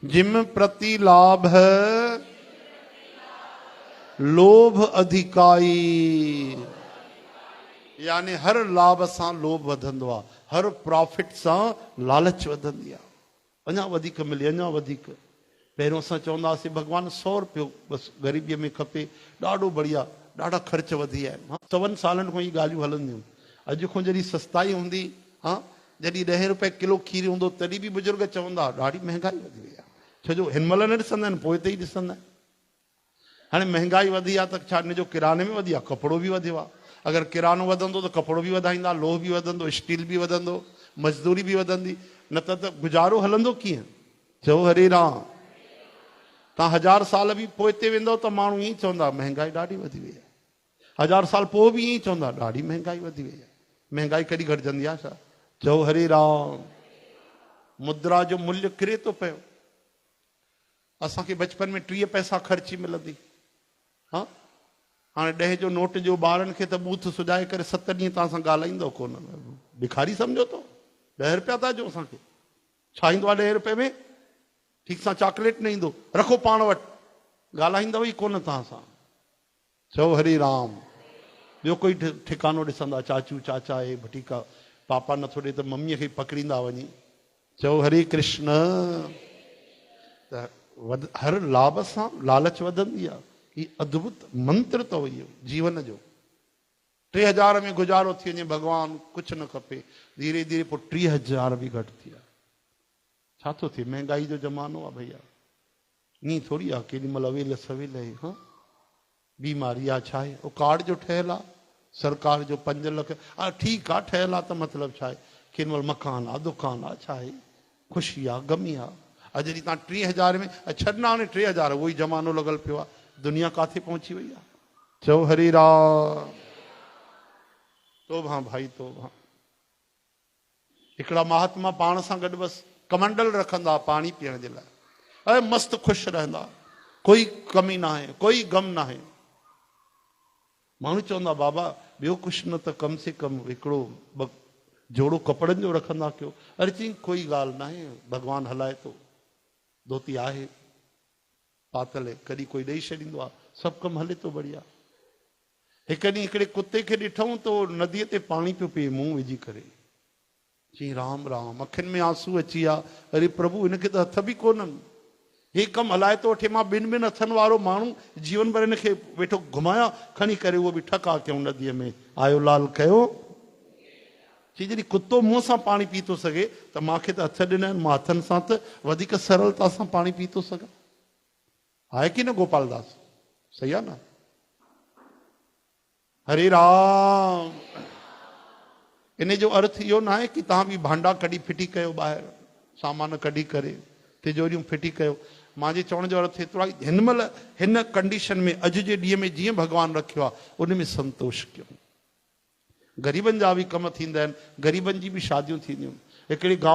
جم پرتي لاڀ لوڀ اڌڪائي، يعني هر لاڀ سان لوڀ وڌندو آهي، هر پرافٽ سان لالچ وڌندي آهي، اڃا وڌيڪ ملي، اڃا وڌيڪ، پهريون اسان چوندا هئاسين ڀڳوان سؤ رپيو بس غريبيء ۾ کپي، ڏاڍو بڙيا، ڏاڍا خرچ وڌي ويا آهن، سون سالن کان اهي ڳالهيون هلنديون، اڄ کان جڏهن سستائي هوندي ها. جڏهن ڏهين روپئي ڪلو کير هوندو تڏهن به بزرگ چوندا هئا ڏاڍي مهنگائي وڌي وئي آهي ڇو جو هن مهل نه ڏسندا آهن پوء ته ئي ڏسندا آهن هاڻي مهنگائي وڌي آهي ته ڇا ان جو ڪراني ۾ وڌي آهي ڪپڙو به وڌيو آهي اگر ڪرانو وڌندو ته ڪپڙو به وڌائيندا لوهه به وڌندو اسٽيل به وڌندو مزدوري به وڌندي نه ته ته گذارو هلندو ڪيئن چئو هري رام تان هزار سال به پوئتي ويندو ته ماڻهو ائين چوندا مهنگائي ڏاڍي وڌي وئي آهي هزار سال پوء به ائين ئي چوندا ڏاڍي مهنگائي وڌي وئي آهي مهنگائي ڪڏهن گهٽجندي آهي ڇا چئو هري رام مدرا جو ملهه ڪري ٿو پيو اسان کي بچپن ۾ ٽيهه پئسا خرچي ملندي ها هاڻي ڏهه جو نوٽ ڏيو ٻارن کي ته ٻوٿ سجائي ڪري ست ڏينهن تان سان ڳالهائيندو ڪون بکاري سمجهو تو ڏهه روپيا ٿا ڏيو اسان کي ڇا ايندو آهي ڏهه روپئي ۾ ٺيڪ سان چاڪليٽ نه ايندو رکو پاڻ وٽ ڳالهائيندو ئي ڪون توهان سان چئو هري رام. ٻيو ڪوئي ٺڪانو ڏسندا چاچو چاچا اهي ڀٽيڪا پاپا نٿو ڏي ته مميء کي ئي پڪڙيندا وڃي چئو هري ڪرشن ته هر لاب سان لالچ وڌندي آهي هي ادڀت منتر اٿو اهو جيون جو ٽي هزار ۾ گذارو ٿي وڃي ڀڳوان ڪجهه نه کپي ڌيري ڌيري پوء ٽي هزار به گهٽ ٿيا ڇا ٿو ٿئي مهنگائي جو زمانو آهي ڀئيا. ائين ٿوري آ ڪيڏي مھل اويل سويل اھي ھا بيماري آ ڇا اھي او ڪارڊ جو ٺھيل آ سرڪار جو پنج لک آ ٺيڪ آ ٺھيل آ ته مطلب ڇا اھي ڪين مھل مڪان آ دڪان آ ڇا اھي خوشي آ غمي آ اڄ جي تان ٽي ھزار ۾ اڄ ڇڏ نه ھاڻي ٽي ھزار اھو ئي زمانو لڳل پيو آ دنيا ڪاٿي پھچي وئي آ چئو ھري رام توبھان ڀائي توبھان. هڪڙا مهاتما پاڻ سان گڏ بس ڪمنڊل رکندا ها پاڻي پيئڻ جي لاء ۽ مست خوش رهندا ها ڪوئي ڪمي ناهي ڪوئي غم ناهي ماڻهو چوندا بابا ٻيو ڪجهه نه ته ڪم سي ڪم هڪڙو ٻه جوڙو ڪپڙن جو رکندا ڪيو اري چئين ڪوئي ڳالهه ناهي ڀڳوان هلائي ٿو ڌوتي آهي پاتل ڪڏهن ڪوئي ڏئي ڇڏيندو آهي سڀ ڪم هلي ٿو بڙيا هڪ ڏينهن هڪڙي ڪتي کي ڏٺئون ته اهو نديء تي پاڻي پيو پيئي منهن وجهي ڪري. چيائين رام رام. اکين ۾ آنسو اچي ويا. اري پرڀو هن کي ته هٿ به ڪونهن. هي ڪم هلائي ٿو وٺي. مان ٻن ٻن هٿن وارو ماڻهو جيون ڀر هن کي ويٺو گهمايان. کڻي ڪري اهو به ٺڪاء ڪيائون نديء ۾. آيو لال ڪيو. چي جڏهن ڪتو منهن سان پاڻي پي ٿو سگهي ته مان کي ته هٿ ڏنا آهن. مان هٿن سان ته وڌيڪ سرلتا سان پاڻي پي ٿو سگهان. آهي ڪي نه گوپال داس صحيح آ نه. هري رام ان جو ارٿ اهو ناهي ڪي توهان به ڀانڊا ڪڍي ڦٽي ڪيو ٻاهر سامان ڪڍي ڪري تجوريون ڦٽي ڪيو مانجي چوڻ جو ارٿ ايترو آهي هن مهل هن ڪنڊيشن ۾ اڄ جي ڏينهن ۾ جيئن ڀڳوان رکيو آ ان ۾ سنتوش ڪيو غريبن جا به ڪم ٿيندا آهن غريبن جي به شاديون ٿينديون هڪڙي گاء